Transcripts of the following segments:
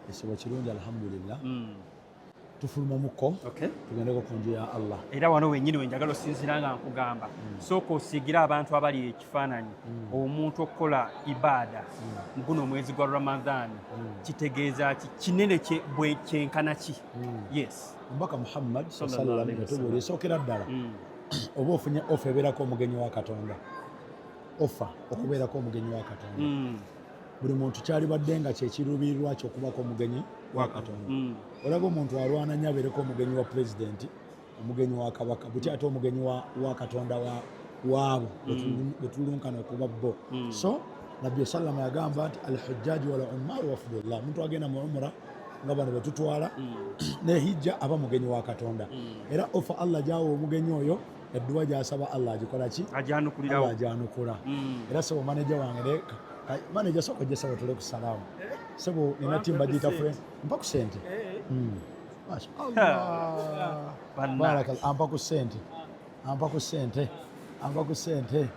ekisibo kirungi alhamdulillah hmm. tufulumamuko tugendeko ku nju ya allah era wano wenyini wenjagala osinzira nga nkugamba hmm. sooka osiigira abantu abali ekifaananyi hmm. omuntu okukola ibaada mu guno omwezi gwa ramadhan kitegeeza ki kinene kyenkana ki yes omubaka muhammad salam yatubuula esookera ddala oba ofunye ofa ebeerako omugenyi wa katonda ofa okubeerako omugenyi wa katonda buli muntu kyalibadde nga kyekiruubirirwa kyokubako omugenyi wa katonda mm. olaba omuntu alwana nyo abeereko omugenyi wa pulezidenti omugenyi wa kabaka buti ate omugenyi wa katonda waabo mm. wetulunkana okuba bo mm. so nabbi salama yagamba nti alhujjaji wala umaru wafudullah omuntu agenda mu umura nga bano betutwala nehijja aba mugenyi wa katonda era ofa allah gyawa omugenyi oyo edduwa gyasaba allah agikola ki agyanukulirawo agyanukula mm. era sebo maneja wange maneja soka ojja sebo tule kusalawo sebo nina timu bagiyita fre mpa ku sente eh, eh. mm. ampa ku sente ampa ku sente ampa ku sente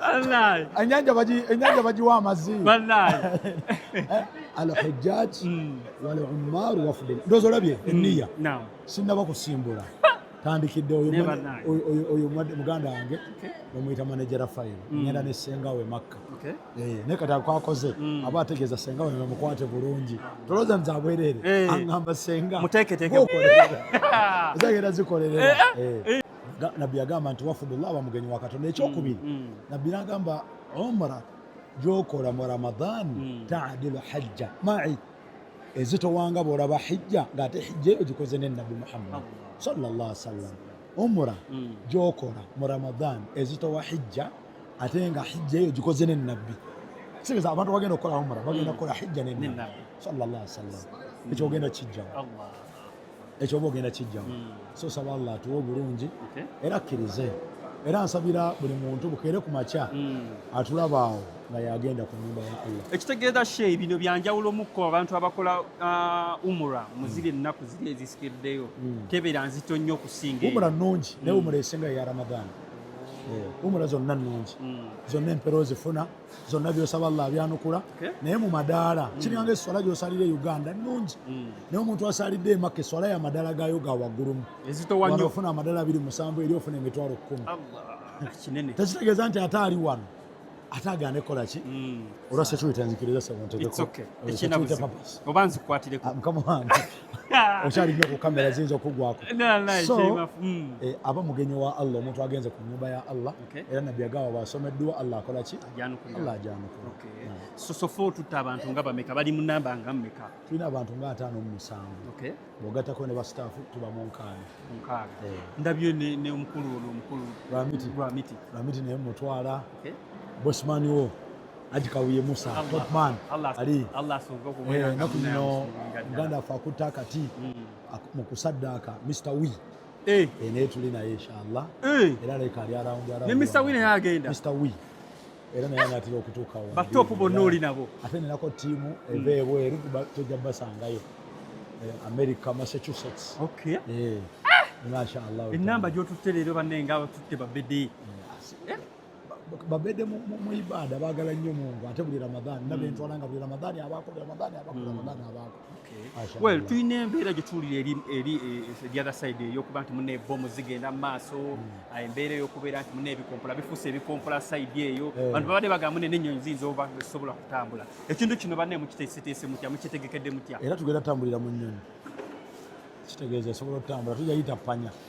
wallahi enyanja baji enyanja baji wa mazi wallahi eh, al hajjaj hmm. wal ummar wafd ndozo labye hmm. niya naam sinna bakusimbula tandikidde oyo oyo muganda wange bamuyita manajera fayiro hmm. ngenda ne senga we makka eh, naye kati akwakoze aba ategeeza senga we bamukwate bulungi tolooza nze abwereere eh. aŋamba senga muteeketeeke zagenda zikolerera eh, nabbi yagamba nti wafudullah aba mugenyi wa katonda ekyokubiri mm, mm. nabbi nagamba umra gyokola mu ramadan mm. tadilu hajja mai ezitowanga bwolaba hijja ngaate hijja eyo gikoze ne nabbi muhammad sallallah sallam umra gyokola mu ramadan ezitowa hijja ate nga hijja eyo gikoze ne nabbi sibeza abantu bagenda okukola umra bagenda kukola hijja ne nabbi sallallah sallam ekyogenda kijjawo ekyoba ogenda kijjamu hmm. so saba allah atuwa obulungi era akkirize era nsabira buli muntu bukeere ku makya hmm. atulabaawo nga yagenda ku nyumba ya allah ekitegeeza shee bino byanjawulomuko abantu abakola uh, umura muziri hmm. ennaku ziri ezisikiddeyo tebera nzito nnyo okusinga umura nungi naye umura esinga ya ramadani eh, umura zonna nungi zonna empero zifuna zonna byosaba allah abyanukula naye mu madaala mm. kiringa eswala gyosalira e uganda nungi mm. naye omuntu asalidde emaka eswala ya madaala gayo ga waggulumu ofuna amadaala abiri musanvu eri ofuna emitwalo kkumi tekitegeeza nti ate ali wano ate agane kola ki mm. olwa security nzikiriza semuntegekoba nzikwatireko ah, mukama wange okyali nyo ku kamera ziyinza okugwako so eh, aba mugenyi wa allah omuntu agenze ku nyumba ya allah era nabbi agamba bwasoma edduwa allah akola ki allah ajanukula sosofa otutta abantu nga bameka bali mu namba nga mmeka tulina abantu nga ataano mu musanvu bwogattako ne basitaafu tuba mu nkaaga eh. ndabye ne omukulu ono omukulu lwamiti lwamiti lwamiti naye mutwala bosmani wo aji kawuye musa topman ali eh, naku zino muganda afe akutta akati mm. mu kusaddaaka mr wee eh. eh, naye tuli naye inshallah eh. era leka ali arawundi arawundi ne Mr. Wine naye agenda Mr. Wine era naye anatera okutuukawo batopu bonna oli nabo ate nenako ttiimu eva ebweru tojja basangayo america massachusetts okay. yeah. mashallah enamba gyotutte leero banne nga tutte babede yeah. babedde mu ibaada baagala nnyo mungu ate buli ramadhan hmm. nabentwala nga buli ramadhan abaako buli ramadhan abaako hmm. ramadhan abaako well tulina embeera gye tuwulira eri eri eh, eh, the other side eyokuba nti muna ebomu zigenda mu maaso hmm. ah, embeera eyokubeera nti muna ebikompola bifuuse ebikompola side eyo eh. bantu babadde bagamba muna n'ennyonyi ziyinza oba zisobola kutambula ekintu kino banne mukiteeseteese mutya mukitegekedde mutya era tugenda tutambulira mu nnyonyi kitegeeza esobola okutambula tujayita panya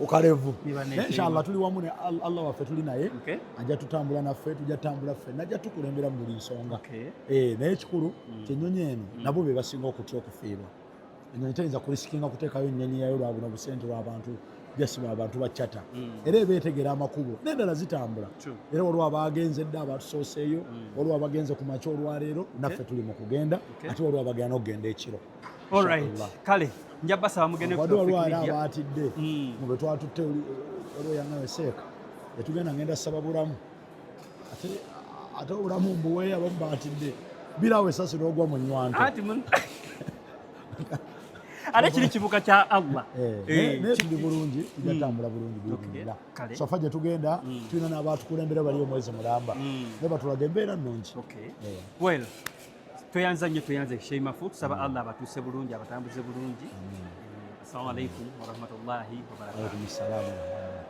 ukalevu naye inshallah tuli wamu ne Allah waffe tuli naye okay. ajja tutambula naffe tujja tutambula ffe najja tukulembera mu buli nsonga okay. eh, naye ekikulu mm. kyenyonyi eno mm. nabo be basinga okutya okufiirwa enyonyi tayinza kurisikinga kuteekayo ennyonyi yayo lwa buno busente lwabantu jasi lwabantu bacata mm. era eba etegera amakubo nendala zitambula True. era waliwo abaagenze dda abatusoseeyo mm. waliwo abagenze ku makya olwaleero okay. naffe tuli mu kugenda okay. ate waliwo abagenda nokugenda ekiro Alright. Kale nja basaba mugende ku Tawfiq Media. Batidde mm. mube twatutte olwo yana weseeka yatugenda ngenda saba bulamu ate ate obulamu mbuwe abamu batidde birawo esasi logwa mu nywanto ati mun ate kiri kibuka kya Allah eh, eh, naye tuli bulungi tujatambula mm. bulungi biinira sofa gye tugenda mm. tulina n'abaatukulembera bali omwezi mulamba naye batulaga embeera nnungi eh. well Tweyanza nnyo tweyanza Sheimafu, tusaba mm. Allah abatuuse bulungi abatambuze bulungi. Mm. Assalamu alaikum warahmatullahi wabarakatuh.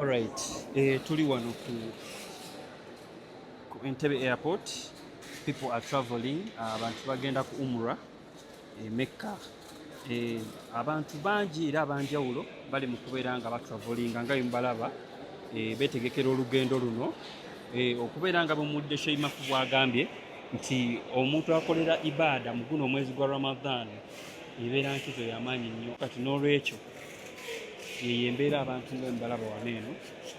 Alright, eh, tuli wano ku ku Entebbe airport people are traveling ah, abantu uh, bagenda ku umra emekka eh, abantu bangi era abanjawulo bali mu kubeera nga batravolinga nga bemubalaba eh, betegekera olugendo luno eh, okubeera nga bumudde sheimafu bwagambye nti omuntu akolera ibaada mu guno omwezi gwa ramadhan ebeera nkizo yamaanyi nnyo kati n'olwekyo yeyo embeera abantu nga emubalaba wano eno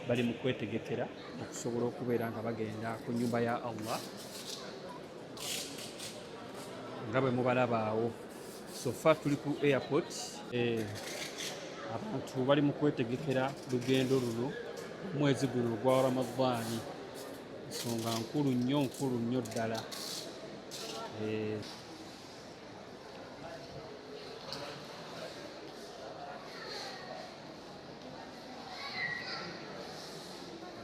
bali mu kwetegekera okusobola okubeera nga bagenda ku nyumba ya allah nga bwe mubalabaawo sofa tuli ku airport eh, abantu bali mu kwetegekera lugendo luno omwezi guno ogwa ramadaani nsonga nkulu nnyo nkulu nnyo ddala eh,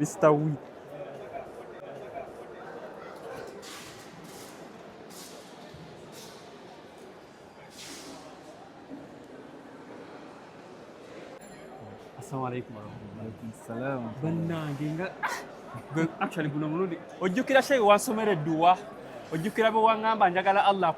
Mr. Wheat. Assalamu alaikum warahmatullahi bannange nga actually guno mulundi ojjukira shehe wansomera edduwa ojjukira bwe waŋŋamba njagala allah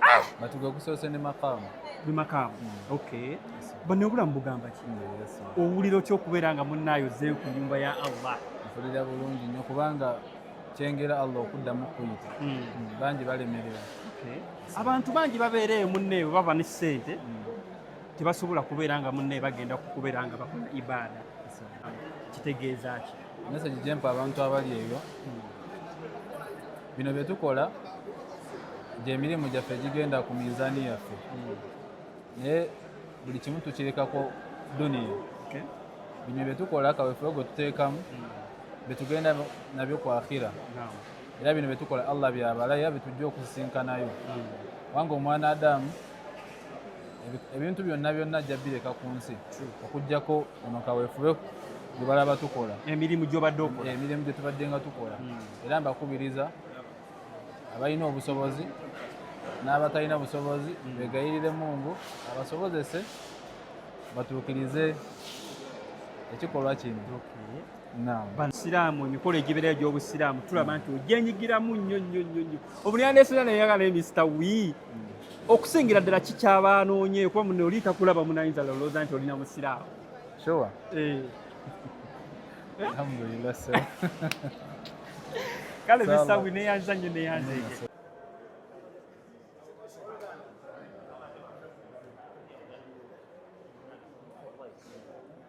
ah! matuga gusoose ne makaamu ne makaamu hmm. okay bano obulamu bugamba ki owulira otya okubeera nga munnaayo zeeyo ku nyumba ya allah mpulira bulungi nnyo kubanga kyengera allah okuddamu kuyita hmm. Hmm, bangi balemerera abantu bangi babeera eyo munneeyo baba ne ssente tebasobola kubeera nga munneeyo bagenda kukubeera nga bakola ibaada kitegeeza ki message gyempa abantu abali ebyo bino byetukola gyemirimu gyaffe gigenda ku minzaani yaffe naye buli kimu tukirekako duniya bino byetukola kawefube gwe tuteekamu betugenda nabyo ku akhira era bino byetukola allah byabala era byetujja okusisinkanayo kubanga omwana adamu ebintu byonna byonna ajja bireka ku nsi okujjako kuno kawefube gye balaba tukola emirimu gyobadde okola emirimu gye tubadde nga tukola hmm. era mbakubiriza abalina obusobozi n'abatalina busobozi hmm. begayirire mungu abasobozese batuukirize ekikolwa kino basiraamu emikolo egibeera egy'obusiraamu tulaba nti ogyenyigiramu nnyo nnyo nnyo nnyo obulyandeesera neyagala emisita wii hmm. okusingira ddala kikyabaanoonye kuba mune oli takulaba munayinza lolooza nti olina musiraamu sure eh. alhamdulillah sir kale misita wii neyanza nnyo neyanza ege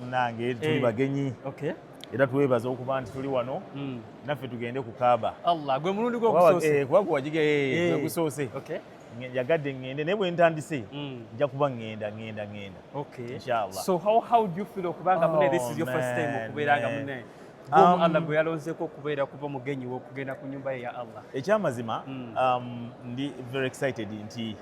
munange tuli eh. bagenyi era twebaza okuba nti tuli wano hmm. naffe tugende ku kaaba gwe mulundi gwokusoose eh, eh, yagadde ngende naye bwentandise hmm. nja kuba ngenda ngenda ngenda inshallah so how how do you feel okubanga mune this is your first time oh, okubeeranga mune Um, Allah gwe yalonzeeko okubeera kuba mugenyi w'okugenda ku nyumba ye ya Allah. Ekyamazima hmm. um, ndi very excited nti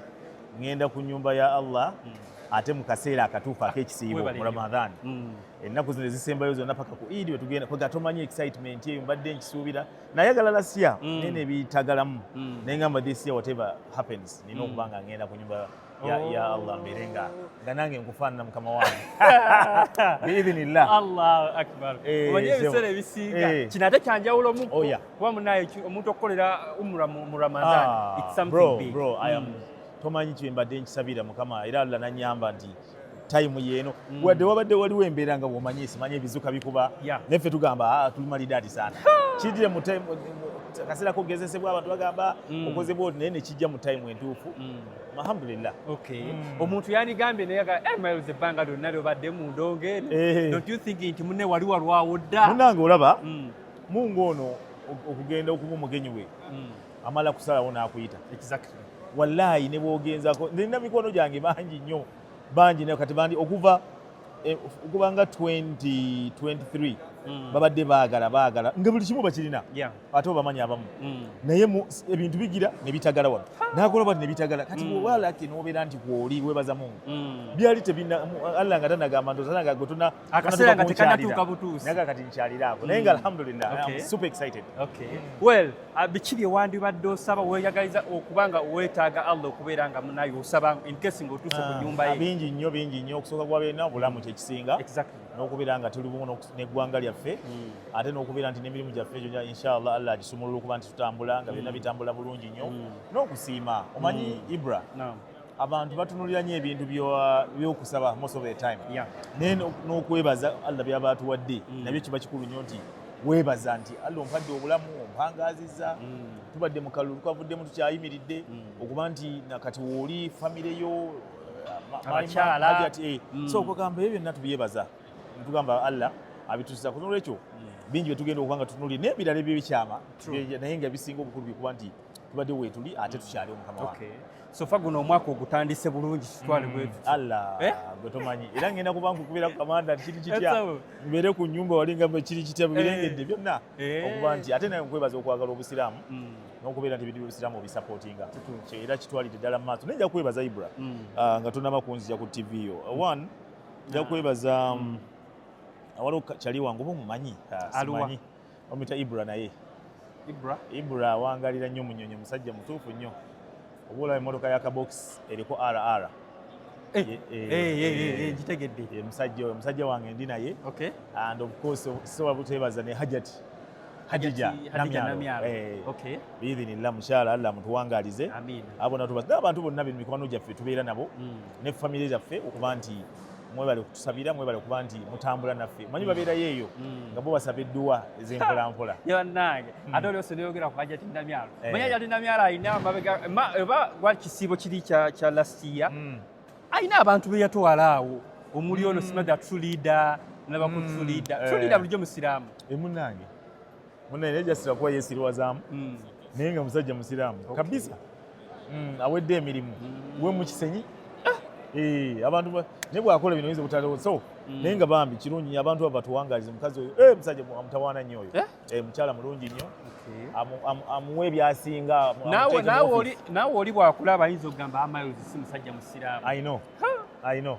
ngenda ku nyumba ya Allah hmm. ate mu kaseera akatuufu ak'ekisiibo mu Ramadhan. Hmm. Ennaku zino ezisembayo zonna paka ku Eid we tugenda kwega tomanyi excitement eyo mbadde nkisuubira nayagala last year naye ne bitagalamu naye ngamba this year whatever happens nina okuba nga ngenda ku nyumba ya, oh. ya Allah mbeere nga nga nange nkufaanana mukama wange biidhinillah allahu akbar eh, omanyi ebiseera ebisiinga eh. kino ate kyanjawulomu oh, kuba munaye omuntu okukolera umra mu ramadan ah, it's something big bro i am mm. tomanyi kyembadde nkisabira mukama era allah nanyamba nti time yeno mm. wadde wabadde waliwo embeera nga bwomanyi simanyi ebizuka bikuba yeah. neffe tugamba ah, tuli malidaadi sana kidire mu time akaseera kogezesebwa abantu bagamba mm. okozebwa oti naye nekijja mu time entuufu mm. alhamdulillah okay mm. omuntu yanigambye naye aga eh mayo ze banga do nalyo badde mu ndonge eno eh. don't you think nti munne wali walwawo dda munange olaba mm. mungu ono okugenda okuba omugenyi we mm. amala kusalawo n'akuyita exactly wallahi ne bwogenzako nina mikono gyange bangi nnyo bangi nayo kati bandi okuva Eh, okuba nga 2023 mm. babadde baagala baagala nga buli kimu bakirina ate obamanyi abamu mm. naye ebintu bigira nebitagala wano nakola bati nebitagala kati mm. wewalaki nobeera nti kwoli webaza mungu byali tebina allah nga tanagamba ndosananga gwetuna akaseera nga tekanatuuka butuusi naga kati nkyaliraako naye nga alhamdulillah super excited okay well Ah, biki bye wandibadde osaba weyagaliza okuba nga weetaaga allah okubeera nga munaye osaba enkesi ngaotuuse ku ah, nyumba ye bingi nnyo bingi nnyo okusooka kwa byonna obulamu kyekisinga n'okubeera nga tuli bumu n'eggwanga lyaffe hmm. ate n'okubeera nti n'emirimu gyaffe gyonna inshallah allah agisumulula okuba nti tutambula nga byonna hmm. bitambula bulungi nnyo hmm. n'okusiima omanyi ibra abantu batunulira nyo ebintu byokusaba most of the time yeah. naye n'okwebaza allah byaba atuwadde mm. nabyo kiba kikulu nyo nti webaza nti allah ompadde obulamu ompangaziza mm. tubadde mu kalulu twavuddemu tukyayimiridde mm. okuba nti nakati wooli famire yo abakyala eh. mm. so okugamba ebyo byonna tubyebaza tugamba allah abitusiza kunolwekyo mm. bingi byetugenda okuba nga tunuli n'ebirala ebyo bikyama naye nga bisinga obukulu bikuba nti tubadde wetuli ate tukyali omukama wange sofa guno omwaka ogutandise bulungi kitwale bwe mm. Allah eh? gwe tomanyi era ngenda kuba nkukubira ku kamanda kiri kitya mbeere ku nyumba wali nga kiri kitya eh. birengedde byonna eh. okuba nti ate naye nkwebaza okwagala obusiraamu mm. n'okubeera nti ebidiba obusiraamu obisapootinga era kitwalidde ddala mu maaso naye nja kwebaza ibra mm. ah, nga tonaba kunzija ku tv yo one nja ah. kwebaza waliwo kyali wange oba omumanyi ah, simanyi omita ibra naye ibra ibra awangalira nnyo munyonyo musajja mutuufu nnyo oba olaba emotoka ya kabokisi eriko rr gitegedde musajja oyo musajja wange ndi naye and of course sobola buteebaza ne hajati hadija namyalo eh, biidhinillah mukyala allah mutuwangalize abona tuba abantu bonna bemikwano gyaffe tubeera nabo mm. ne famire zaffe okuba nti mwebale kutusabira mwebale kuba nti mutambula naffe manyi babeerayo eyo mm. nga bo basaba edduwa ezenkolankola banange mm. ate olyose neyogera ku hajati namyalo eh. manyi hajati namyalo alina mabega oba gwali kisiibo kiri kya lastiya mm. alina abantu beyatwala awo omuli ono simaga tulida nabakutulida tulida eh. bulijjo musiraamu emunange eh, Mune ne just akuwa yesiri wazamu. Mm. Naye nga musajja musiramu. Okay. Kabisa. Mm, awedde emirimu. Mm. We mu kisenyi. Ah. Eh, abantu ba ne bwakola bino yize kutalewo. So, mm. naye nga bambi kirungi abantu aba tuwangalize mukazi oyo. Eh, musajja mutawana nnyo oyo. Eh, eh mchala mulungi nnyo. Okay. Amu amu amuwe byasinga. Nawe nawe oli nawe oli bwakula abayinza okugamba amayo ah, zisimusajja musiramu. I know. Ha. I know.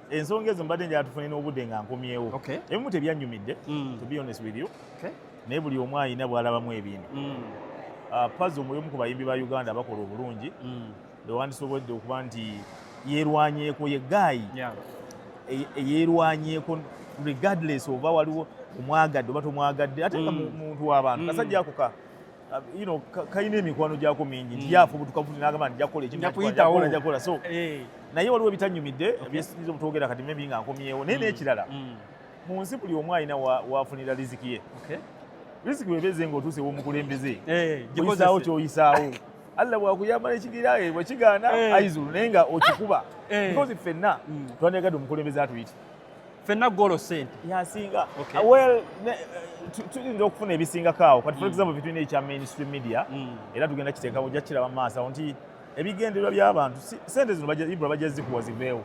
ensonga ezo mbadde njala tufune n'obudde nga nkomyewo ebimu tebyannyumidde mm. to be honest with you naye buli omu alina bwalabamu ebintu mm. ah, pazi omuli omu ku bayimbi ba uganda bakola obulungi mm. bewandisobodde okuba nti yerwanyeeko ye gaayi eyerwanyeeko e, regardless oba waliwo omwagadde oba tomwagadde ate nga muntu w'abantu kasajja akuka kalina emikwano gyako mingi hmm. gyafa obutukavu nagamba nti jakola ekinjakola so eh. naye waliwo ebitanyumidde byesinyiza obutwogera kati mebi nga nkomyewo naye hmm. nekirala hmm. mu nsi buli omu alina wafunira riziki ye riziki webeze nga otuuse womukulembeze eh, oyisaawo kyoyisaawo allah bwakuyamba nekigira eh, bwekigaana aizulu naye nga okikuba because fenna twandiyagadde omukulembeze atuyite fenna golo sente yasinga okay. uh, well eh, tuyinza okufuna ebisingako awo kati for mm. example between ekya mainstream media mm. era tugenda kiteekamu ojja kukiraba mu maaso awo nti ebigendererwa by'abantu sente zino ibra bajja zikuwa ziveewo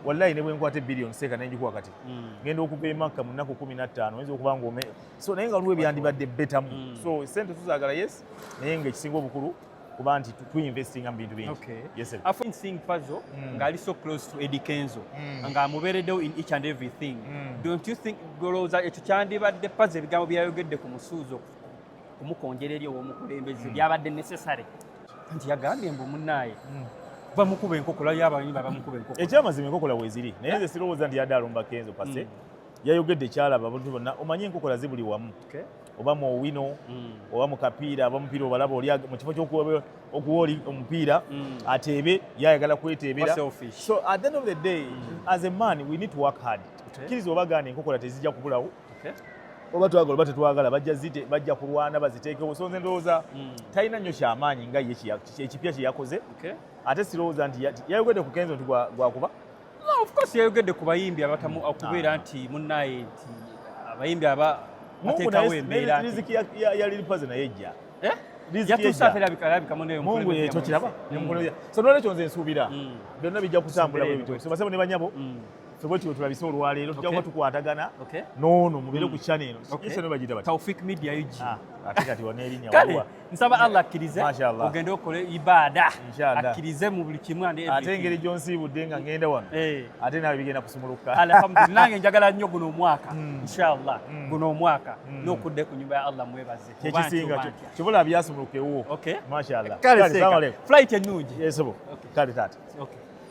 wallahi ne bwenkwata ebillion seeka naye njikuwa kati mm. ngenda okuva emakka mu nnaku kumi na ttaano oyinza okuba ngaome so naye nga waliwo ebyandibadde betamu mm. so sente tuzagala yes naye nga ekisinga obukulu kuba nti tuinvestinga mu bintu bingi okay. yes, I find seeing Pazo mm. nga ali so close to Eddie Kenzo mm. nga amubeereddewo in each and everything mm. don't you think golowooza ekyo kyandibadde Pazo ebigambo byayogedde ku musuuzo kumukonjera eri ow'omukulembeze mm. byabadde necessary nti yagambye mbu munnaaye mm. bamukuba enkoko layo abamanyi babamukuba enkoko ekyamazima enkokola weziri naye nze sirowooza nti yadde alumba kenzo pase mm. yayogedde kyalaba abantu bonna omanye enkokola zibuli wamu oba mu owino mm. oba mu kapiira aba mupiira obalaba oli mu kifo kyokuwa oli omupiira mm. ateebe yayagala kweteebera so at the end of the day mm. as a man we need to work hard tukkiriza oba gaana enkokola tezijja kubulawo oba twagala oba tetwagala bajja kulwana baziteekewo so nze ndowooza talina nnyo kyamaanyi nga ye ekipya kyeyakoze ate sirowooza nti yayogedde ku kenzo nti gwakuba of course yayogedde ku bayimbi abatamu mm. okubeera ah. nti munnaye nti abayimbi aba ateekawo embeera riziki ya lili pazi naye ejja eh? mungu ekyo kiraba mm. so nolwekyo nze nsuubira mm. byonna bijja kutambula bwebitosebasebo ne banyabo ffe bwekityo tulabise olwaleero tujja kuba tukwatagana noono mubeere ku chana eno bagita bati ah, ate kati waneerinya nsaba allah akkirize ogende okole ibaada akkirize mu buli kimu ate engeri gyonsiibudde nga ngenda wano eh. ate nawe bigenda kusumuluka alhamdulillah nange njagala nnyo guno omwaka hmm. inshallah hmm. guno omwaka hmm. nokudde ku nyumba ya allah mwebaze kyekisinga kibula byasumulukewo mashallah kale flight ennungi kale taata